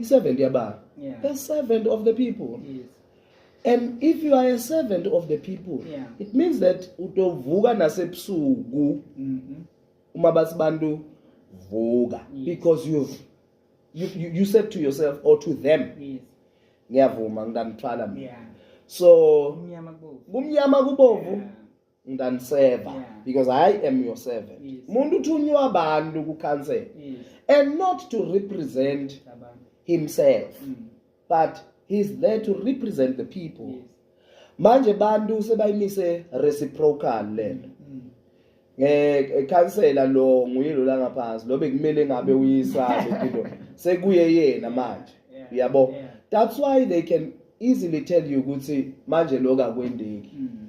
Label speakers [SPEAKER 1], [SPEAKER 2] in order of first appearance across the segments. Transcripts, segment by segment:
[SPEAKER 1] i servant yabani yeah. a servant of the people
[SPEAKER 2] yes. and if
[SPEAKER 1] you are a servant of the people yeah. it means that utovuka nasebusuku mm -hmm. uma bathi bantu vuka yes. because you've you, you, you said to yourself or to them yes. ngiyavuma ngitamthwala mina yeah. so kumnyama kubovu yeah. ngidaniseva yeah. because i am your servant yes. muntu uthunywa abantu kucancel yes. and not to represent himself mm. but he's there to represent the people yes. manje bantu sebayimise reciprocal lento mm. ngekhansela eh, eh, lo nguye lo la ngaphansi lo bekumele ngabe uyisabe into sekuye yena manje uyabo that's why they can easily tell you ukuthi manje lokho akwendeki mm.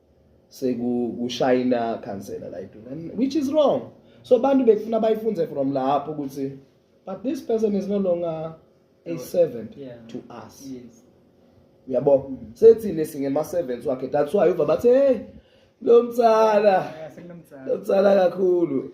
[SPEAKER 1] sekushayina khansela la eduneni which is wrong so abantu bekufuna bayifunze from lapho ukuthi but this person is no longer a servant yeah. to us yes uyabo mm. sethini singema servants wakhe that's why uva bathe hey lo mtsala lo mtsala kakhulu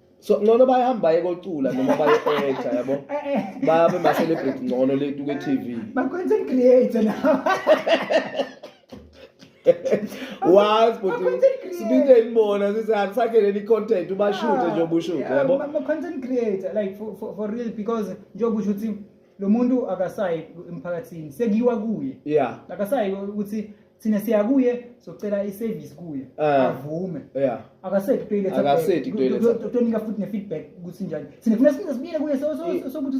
[SPEAKER 2] so ngcono bayihamba
[SPEAKER 1] baye kocula noma baye eja yabo eh, eh. babe ma celebrate ngcono le tuke TV ba content creator
[SPEAKER 2] na
[SPEAKER 1] was but sibinde imbona sithi akusakhe leli content ubashuthe ah, nje obushuthe yabo ma content creator
[SPEAKER 2] like for, for, for real because njengoba usho ukuthi lo muntu akasayi emphakathini sekuyiwa kuye yeah akasayi ukuthi thina siya kuye socela i-service kuye Ah. avume yeah akasethi kutoilet Akasethi kutoilet. tonika futhi ne-feedback ukuthi njani thina funa size sibuyele
[SPEAKER 1] kuye
[SPEAKER 2] so- so- Eh. sokuthi